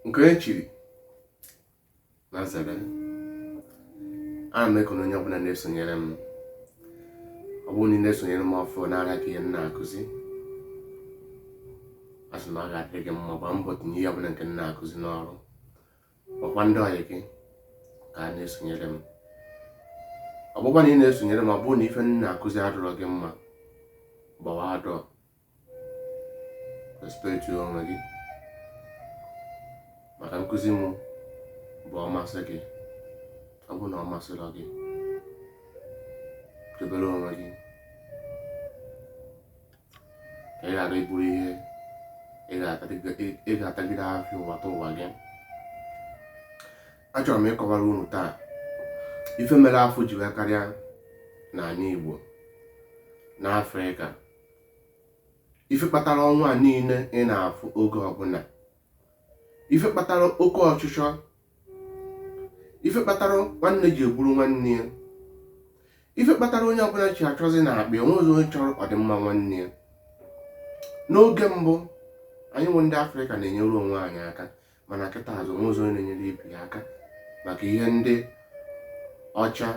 nke e chiri na nzere ana m ekene onye ọbụla na-esonyere m ọ bụrụ na ị na-esonyere m ọfụ n'ara ka ihe m na-akụzi asị na ọ ga-adị gị mma gbaa mbọ tinye ihe ọbụla nke m na-akụzi n'ọrụ gwa ndị ọyị gị ka ha na-esonyere m ọ bụkwa na ị na-esonyere m ọ bụrụ na ife m na-akụzi adịrọ gị mma gbawa door respect onwe gị maka nkụzi m bụ ọ masị gị ọ bụ na ọ masịrọ gị debere onwe gị ka ị ghara iburu ihe ị ga-atagide afụfụ ụwataụwa gị achọrọ m ịkọwara unu taa ife mere afụfụ ji wee karịa n'ala Igbo n'Afrịka ife kpatara ọnwụ a niile ị na-afụ oge ọbụla ife kpatara oke ọchịchọ ife kpatara nwanne ji egburu nwanne ya ife kpatara onye ọbụla ji achọzi na akpa o nwerozi onye chọrọ ọdịmma nwanne ya n'oge mbụ anyịnwa ndị afrịka na-enyere onwe anyị aka mana kịtaazị o nwerozi onye na-enyere ibe ya aka maka ihe ndị ọcha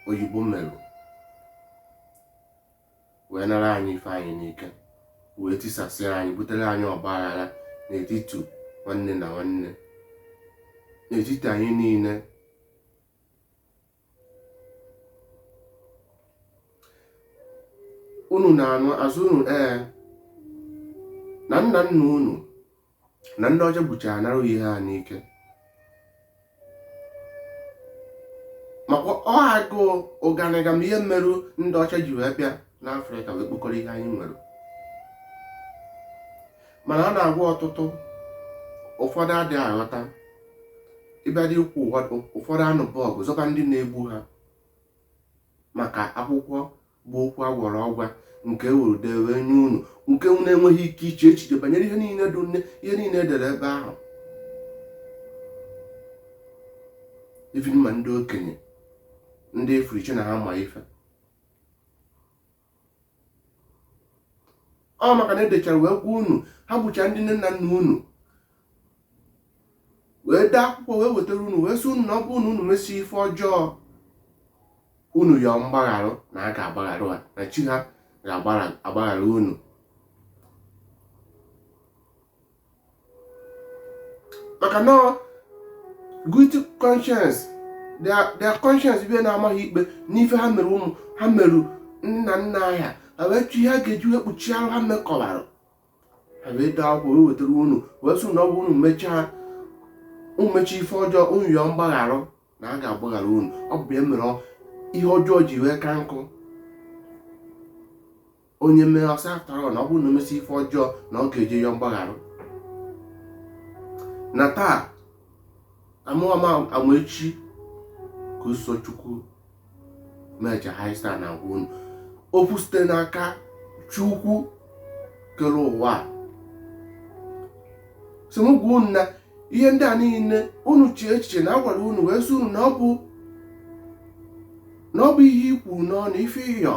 oyibo mere wee nara anyị ife anyị n'ike wee tisasị anyị butere anyị ọgba aghara n'etiti nwanne na nwanne n'etiti anyị niile unu na-anụ a sị unu ee na nna nna unu na ndị ọcha gbuchaa nara ihe ha n'ike maka ọ agụụ ụganị ga ma ihe merụ ndị ọcha ji wee bịa n'afrịka wee kpokọrọ ihe anyị nwere mana a na-agwa ọtụtụ ụfọdụ adịghị aghọta ị bido ikwu ụfọdụ anụba ọgụ zọba ndị na-egbu ha maka akwụkwọ bụ okwu agwara ọgwa nke e were dee wee nye unu nke unu enweghị ike iche echiche banyere ihe niile edere ebe ahụ even ma ndị okenye ndị ị fụrụ chee na ha ma ife ọ maka na edechara wee gwa unu ha gbuchaa ndị nne na nna unu wee dee akwụkwọ wee wetara unu wee sị unu na ọ bụrụ na unu mesi ife ọjọọ unu yọọ mgbagharụ na a ga-agbaghara ha na chi ha ga-agbaghara unu maka na guilty conscience their conscience bịa na-ama ha ikpe n'ife ha mere ụmụ ha merụ nna nna ha ha wee chọọ ihe ha ga-eji wee kpuchie arụ ha mekọbara wee dee akwụkwọ wee wetara unu wee sị na ọ bụ unu mechaa unu mechaa ife ọjọọ unu yọọ mgbagharụ na a ga-agbaghara unu ọ bụ ya mere ihe ọjọọ ji wee ka njọ onye mee ọ sị after all na ọ bụrụ na o mesịa ife ọjọọ na ọ ga-eje yọọ mgbagharụ na taa a mụwa Amaechi ka usochukwu meja haista na-agwa unu okwu site n'aka Chukwu kere ụwa a sị m gwa unu na ihe ndị a niile unu chee echiche na a gwara unu wee sị unu na ọ bụ na ọ bụ ihe ikwu n'ọnụ ife ịyọ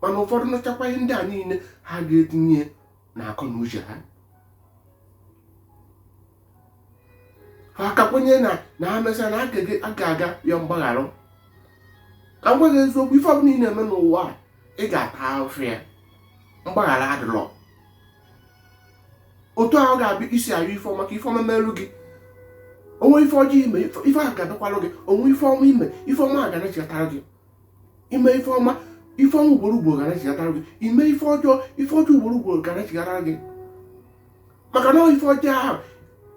mana ụfọdụ nụchakwa ihe ndị a niile ha ga-etinye n'akọ na uche ha ha a ka kwenye na na ha mesịa na ha ga-aga yọọ mgbaghara ka m gwa gị eziokwu ife ọbụla ị na-eme n'ụwa a ị ga-ata ahụhụ ya mgbaghara adịrọ otu ahụ ga-abịa i si ayọ ife ọma ka ife ọma merụ gị o nwee ife ọjọọ i mere ife ahụ ga-abịakwalụ gị o nwee ife ọma i mere ife ọma a ga-anachighatara gị i mee ife ọma ife ọma ugboro ugboro ga-anachighatara gị i mee ife ọjọọ ife ọjọọ ugboro ugboro ga-anachighatara gị maka na ife ọjọọ ahụ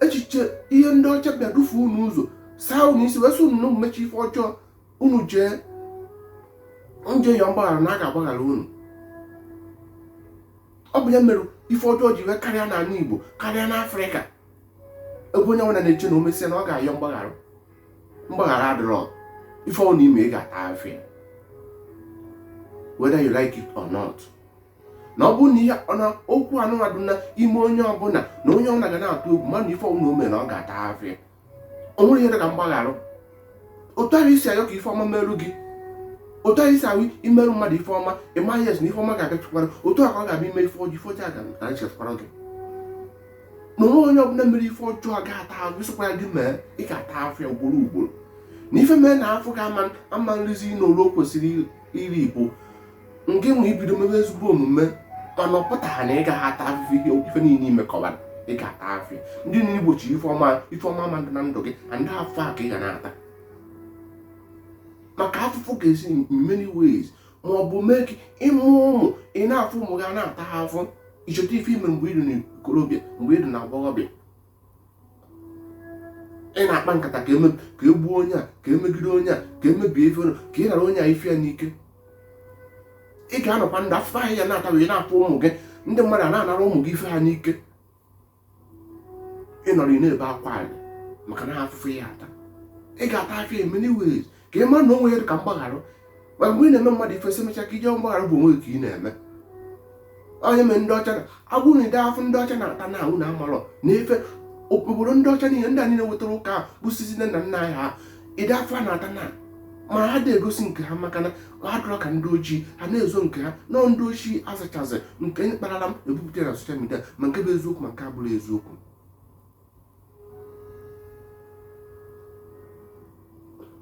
echiche ihe ndị ọcha bịa dufuo unu ụzọ saa unu isi wee sị unu na unu mechaa ife ọjọọ unu jee yọọ mgbaghara na a ga-agbaghara unu ọ bụ ya mere ife ọjọọ ji wee karịa n'ala Igbo karịa n'Afrịka ebe onye ọbụla na-eche na o mesịa na ọ ga-ayọ mgbaghara mgbaghara adịrọ ife ọbụla i mere ị ga-ata afụfụ ya whether you like it or not na ọ bụrụ na ihe na okwu anụmadụ na ime onye ọbụla na onye ọbụla ga na-atụ egwu ma na ife ọbụla o mere na ọ ga-ata afụfụ ya o nwerọ ihe dị ka mgbagharụ otu ahụ i si ayọ ka ife ọma merụ gị otu ahụ i si ahụ i merụ mmadụ ife ọma ị ma yes na ife ọma ga-abịachikwara otu a ka ọ ga-abịa i mee ife ọjọọ ife ọjọọ a ga-abịachikwara gị na o nwee onye ọbụla mere ife ọjọọ ga-ata afụfụ ya ọ sọkwa gị mee ị ga-ata afụfụ ya ugboro ugboro na ife mee na afụfụ gị ama rizi n'olu o kwesịrị iri bụ ngịnwa ibido mebe ezigbo omume mana ọ pụtarọ na ị gaghị ata afụfụ ihe ife niile i mekọbara ị ga-ata afụfụ ya ndị niile i gbochi ife ọma ife ọma ma na ndụ gị na ndị afụfụ a ka ị ga na-ata maka afụfụ ga-esi in many ways ma ọ bụ mee ka ị mụọ ụmụ ị na-afụ ụmụ gị na-ata afụfụ i cheta ife i mere mgbe ị dị n'ikorobịa mgbe ị dị n'agbọghọbịa ị na-akpa nkata ka e mee ka e gbuo onye a ka e megide onye a ka e mebie ife ka ị nara onye a ife ya n'ike ị ga-anọkwa ndụ afụfụ ahụ a na-ata gị ị na-afụ ụmụ gị ndị mmadụ a na-anara ụmụ gị ife ha n'ike ị nọrọ ị na-ebe akwa anyị maka na afụfụ ị ya-ata ị ga-ata afụfụ ya in many ways ka ị mara na o nweghị ihe dị ka mgbaghara ma mgbe ị na-eme mmadụ ife sị emecha ka ị je yọọ mgbaghara bụ onwe gị ka ị na-eme ọ ya mere ndị ọcha a gwa unu ụdị afụfụ ndị ọcha na-ata now unu amarọ na ife obodo ndị ọcha niile ndị a niile wetara ụka busizi nne na nna anyị ha ụdị afụfụ ha na-ata now ma ha adị egosi nke ha maka na ha adịrọ ka ndị ojii ha na-ezo nke ha na ọ ndị ojii azachazị nke anyị kparala m ebupụta na social media ma nke bụ eziokwu ma nke abụrọ eziokwu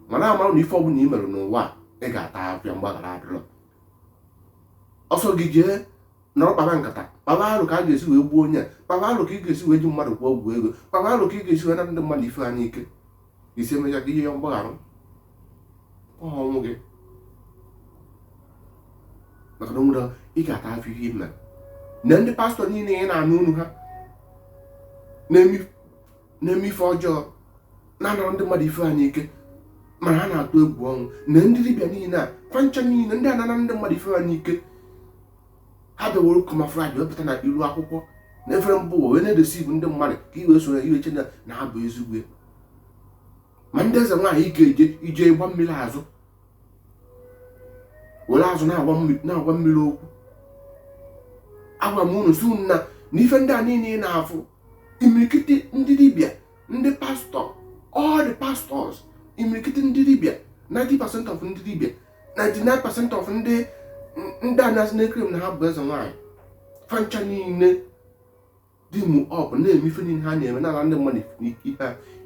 mana amarọ na ife ọbụla i mere n'ụwa ị ga-ata afụfụ ya mgbaghara adịrọ ọ sọ gị jee nọrọ kpaba nkata kpaba arụ ka a ga-esi wee gbuo onye a kpaba arụ ka ị ga-esi wee ji mmadụ gwọọ ọgwụ ego kpaba arụ ka ị ga-esi wee naa ndị mmadụ ife ha n'ike ị sị emecha ka ị je yọọ mgbaghara ọ onwe gị maka na onwere ị ga-ata afụfụ ihe i mere nee ndị pastọ niile ị na-anụ onu ha na-eme ife ọjọọ na-anara ndị mmadụ ife ha n'ike mana ha na-atụ egwu ọnwụ nee ndị dibịa niile a fa ncha niile ndị a na-ana ndị mmadụ ife ha n'ike ha bịa were camouflage wepụta na iru akwụkwọ na efere mba ụwa wee na-edeceive ndị mmadụ ka i wee so ya i wee chee na ha bụ ezigbo ya ma ndị eze nwaanyị ị ga-eje ị je gba mmiri azụ were azụ na-agwa mmiri okwu agwa m unu si unu na na ife ndị a niile ị na-afụ imirikiti ndị dibịa ndị pastọ all the pastors imirikiti ndị dibịa 90% of ndị dibịa 99 percent of ndị ndị a na-asị nekere m na ha bụ eze nwaanyị fa ncha niile team up na-eme ife niile ha na-eme na-ana ndị mmadụ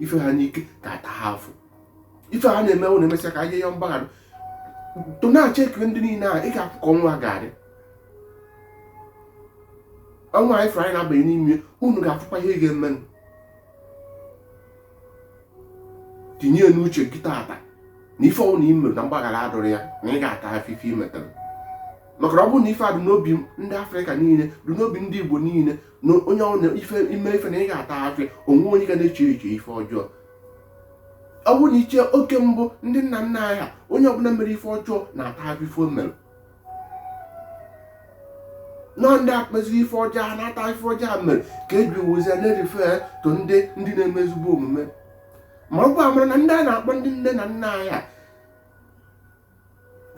ife ha n'ike ga-atacha afụfụ ife ha na-eme wụ na emesịa ka a je yọọ mgbaghara tọọ n'oche kiri ndị niile a ị ga-afụ ka ọnwa ga-adị ọnwa ọfụrụ anyị na-abanye n'ime unu ga-afụkwa ihe ga-emenụ tinye n'uche gị tata na ife ọwụna ị mere na mgbaghara adịrọ ya na ị ga-ata afụfụ ife ị metara maka na ọ bụrụ na ife a dị n'obi ndị afrịka niile dị n'obi ndị igbo niile na onye ọwụna ife i mee ife na ị ga-ata afụfụ ya o nweghị onye ga na-eche eche ife ọjọọ ọ bụrụ na ị chee oge mbụ ndị nna nna anyị ha onye ọbụla mere ife ọjọọ na-ata afụfụ ife o mere na ọ ndị akpezi ife ọjọọ ha na-ata ife ọjọọ ha mere ka e ji always na-erefer to ndị ndị na-eme ezigbo omume ma ọ bụ amara na ndị a na-akpọ ndị nne na nna anyị ha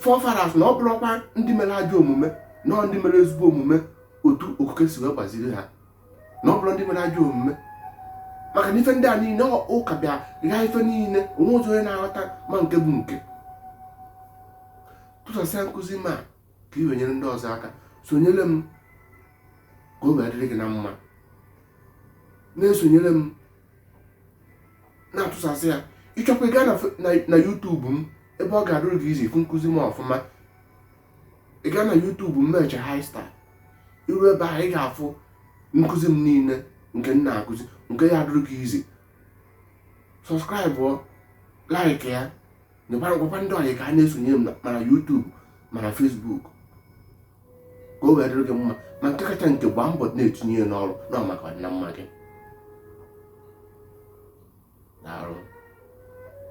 forefathers na ọ bụrọkwa ndị mere ajọ omume na ọ ndị mere ezigbo omume otu okike si wee gbaziri ha na ọ bụrọ ndị mere ajọ omume maka na ife ndị a niile ụka bịa ghaa ife niile o nwezịrọ onye na-aghọta ma nke bụ nke tụsasịa nkụzi m a ka i wee nyere ndị ọzọ aka sonyere m ka o wee dịrị gị na mma na-esonyere m na-atụsasị ya ị chọkwa ịga na YouTube m ebe ọ ga-adụrụ gị easy ịfụ nkụzi m ọfụma ị gaa na YouTube m meche high star i ru ebe ahụ ị ga-afụ nkụzi m niile nke m na-akụzi nke ya adụrụ gị easy subscribe like ya nyekwara gwakwa ndị ọyị ka ha na-esonye m ma na YouTube ma na Facebook ka o wee dịrị gị mma ma nke kacha nke gbaa mbọ na-etinye ya n'ọrụ na maka ọdị na mma gị